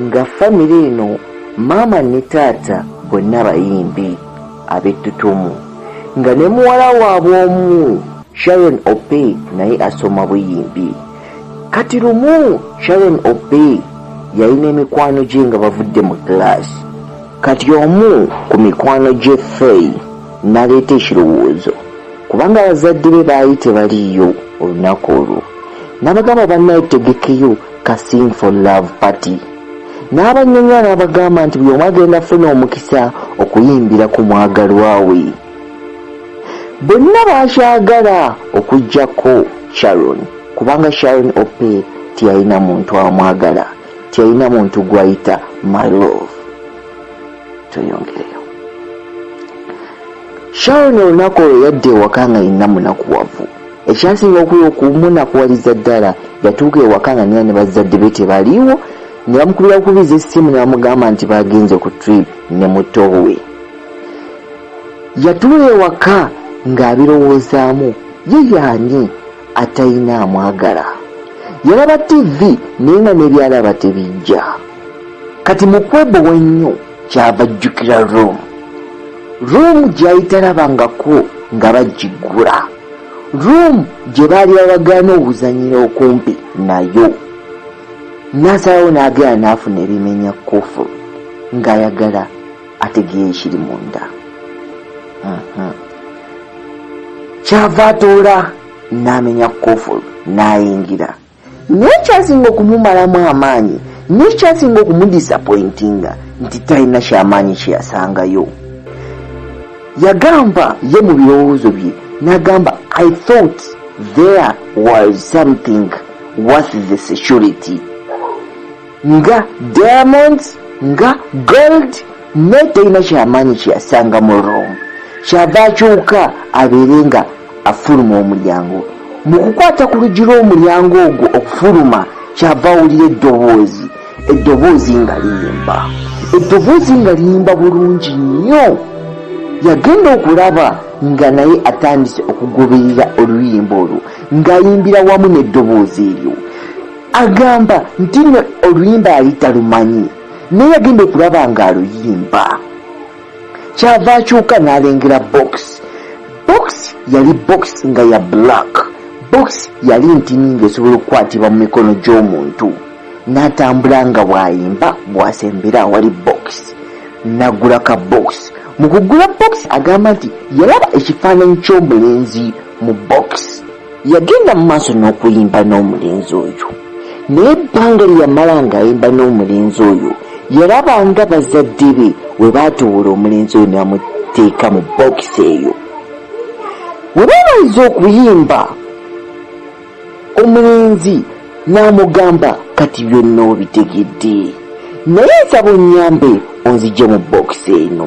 nga famire eno maama ne taata bonna bayimbi ab'ettutumu nga ne muwala waabwe omu sharon ope naye asoma buyimbi kati lumu sharon ope yalina emikwano gye nga bavudde mu kilaasi kati omu ku mikwano gye fei naleeta ekirowoozo kubanga abazadde be baali tebaliiyo olunaku olwo nabagamba bannaye tegekeyo Kasing for Love Party n'abannyonnyola n'abagamba nti buli omu agenda funa omukisa okuyimbira ku mwagalwa we bonna bakyagala okuggyako Sharon kubanga Sharon Ope teyalina muntu amwagala teyalina muntu gwayita my love tweyongereyo Sharon olunaku olwo yadda ewaka nga yenna munakuwavu Ekyasinga okumunakuwaliza ddala yatuuka ewaka nga nina ne bazzadde be tebaliiwo ne bamukubira bukubiza essimu ne bamugamba nti bagenze ku trip ne muto we. Yatuula ewaka ng'abirowoozaamu ye yaani atalina amwagala. Yalaba ttivi naye nga ne byalaba tebijja. Kati mu kwebowa ennyo kyava ajjukira roomu. Roomu gy'ayita labangako nga bagiggula. room gye baali bawagaana obuzanyira okumpi nayo nasalawo n'agenda n'afuna ebimenya kufulu ng'ayagala ategeera ekiri munda mhm. kyava atoola n'amenya kufulu n'ayingira Naye ekyasinga okumumalamu amaanyi n'ekyasinga okumudisappointinga nti talina kyamaanyi kye yasangayo. Yagamba ye mu birowoozo bye n'agamba, I thought there was something worth the security. nga diamonds nga gold naye talina kyamaanyi kyeyasanga mu room kyava akyuka abeere nga afuluma omulyango mu kukwata ku luggi lw'omulyango ogwo okufuluma kyava awulira eddoboozi eddoboozi nga liyimba eddoboozi nga liyimba bulungi nnyo yagenda okulaba nga naye atandise okugoberera oluyimba olwo ng'ayimbira wamu n'eddoboozi eryo Agamba nti ne oluyimba yali talumanyi naye yagenda okulaba nga aluyimba kyava akyuka n'alengera bokisi bokisi yali bokisi nga ya black bokisi yali ntini ng'esobola okukwatibwa mu mikono gy'omuntu n'atambula nga bw'ayimba bw'asembera awali bokisi n'agula ka bokisi mu kugula bokisi agamba nti yalaba ekifaananyi ky'omulenzi mu bokisi Yagenda mu maaso n'okuyimba n'omulenzi oyo, naye ebbanga lye yamala ng'ayimba n'omulenzi oyo yalaba nga bazadde be we baatoowola omulenzi oyo ne bamuteeka mu bookisi eyo. Bwe baamaliza okuyimba, omulenzi n'amugamba kati byonna obitegedde, naye nsaba onnyambe onzigye mu bookisi eno.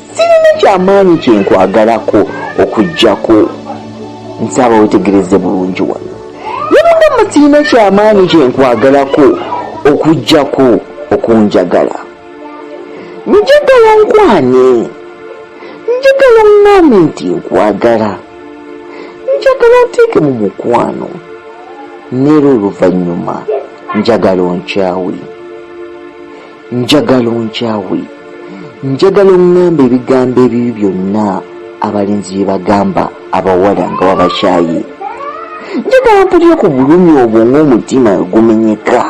Sirina kyamaanyi kye nkwagalako okuggyako nsaba wetegereze bulungi wano. Ne mugamba sirina kyamaanyi kye nkwagalako okuggyako okunjagala. Njagala onkwane. Njagala oŋŋambe nti nkwagala. Njagala onteeke mu mukwano. N'era oluvannyuma njagala onkyawe. njagala onkyawe njagala oŋŋamba ebigambo ebibi byonna abalenzi bye bagamba abawala nga wabakyaye njagala mpulire ku bulumi obwo ng'omutima gumenyeka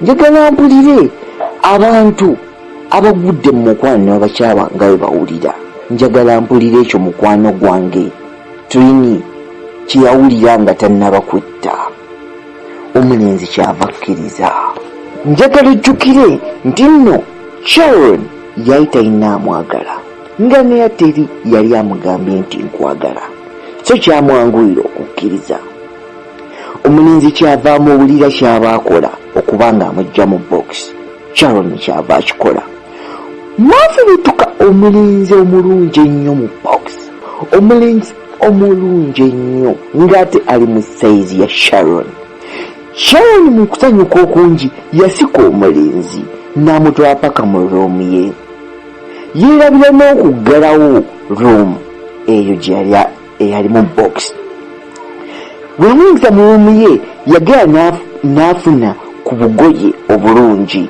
njagala mpulire abantu abagudde mu mukwano ne babakyawa nga bwe bawulira njagala mpulire ekyo mukwano gwange trini kye yawulira nga tannaba kwetta omulenzi kyava akkiriza njagala ojjukire nti nno sharon yali talina amwagala nga neya teri yali amugambye nti nkwagala so kyamwanguyira okukkiriza omulenzi kyava amuwulira kyaba akola okuba nga amujja mu box sharon kyava akikola mwafubutuka omulenzi omulungi ennyo mu box omulenzi omulungi ennyo ng'ate ali mu sayizi ya Sharon. Sharon mu kusanyuka okungi yasika omulenzi n'amutwala paka mu roomu ye. Yeerabira n'okuggalawo roomu eyo gye yali eyalimu bokisi. Bwe yamuyingiza mu roomu ye yagenda n'afuna ku bugoye obulungi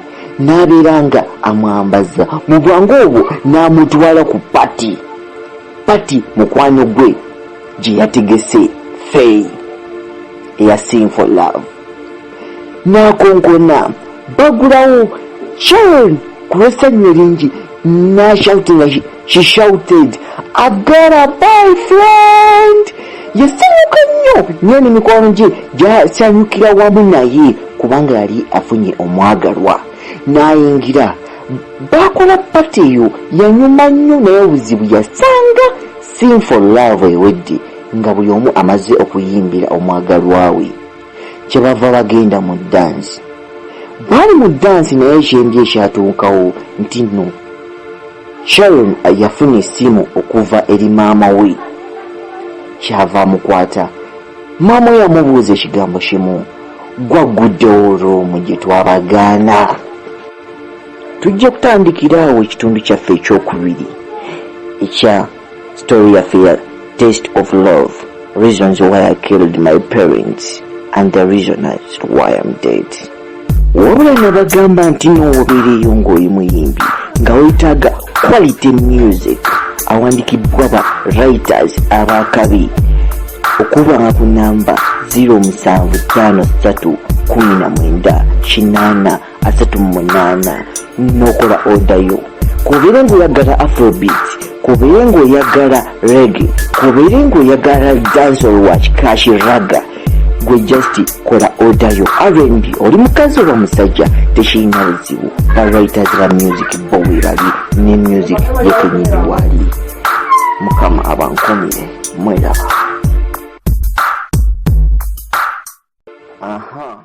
n'abeera nga amwambaza mu bwangu obwo n'amutwala ku pati. Pati mukwano gwe gye yategese Fey eya Sing for Love n'akonkona bagulawo John ku lw'essanyu eringi n'ashoutinga she shouted agara by friend yasanyuka nnyo naye ne mikwano gye gyasanyukira wamu naye kubanga yali afunye omwagalwa n'ayingira Baakola pati eyo yanyuma nnyo naye obuzibu yasanga Sing for Love ewedde nga buli omu amaze okuyimbira omwagalwa we kye bava bagenda mu ddansi. Baali mu ddansi naye ekyembi ekyatuukawo nti nno Sharon yafuna essimu okuva eri maama we kyava amukwata. Maama we yamubuuza ekigambo kimu, gwagguddewo olw'omu gye twabagaana? tujja kutandikira awo ekitundu kyaffe ekyokubiri ekya story yaffe ya taste of love reasons why i killed my parents and the reason as to why im dead wabula nabagamba nti nowobeereeyo ng'oli muyimbi nga wetaaga quality music awandikibwa ba writers abakabi okuba nga ku namba 0753 19 asatu mu munaana n'okola odayo kubeere ng'oyagala afrobeat kubeere ng'oyagala rege kubeere ng'oyagala dansol wa kikashi raga gwe just kola odayo rnb oli mukazi oba musajja tekirina buzibu ba writers ba music bo webali ne music yekenyini wali mukama abankomire mweraba aha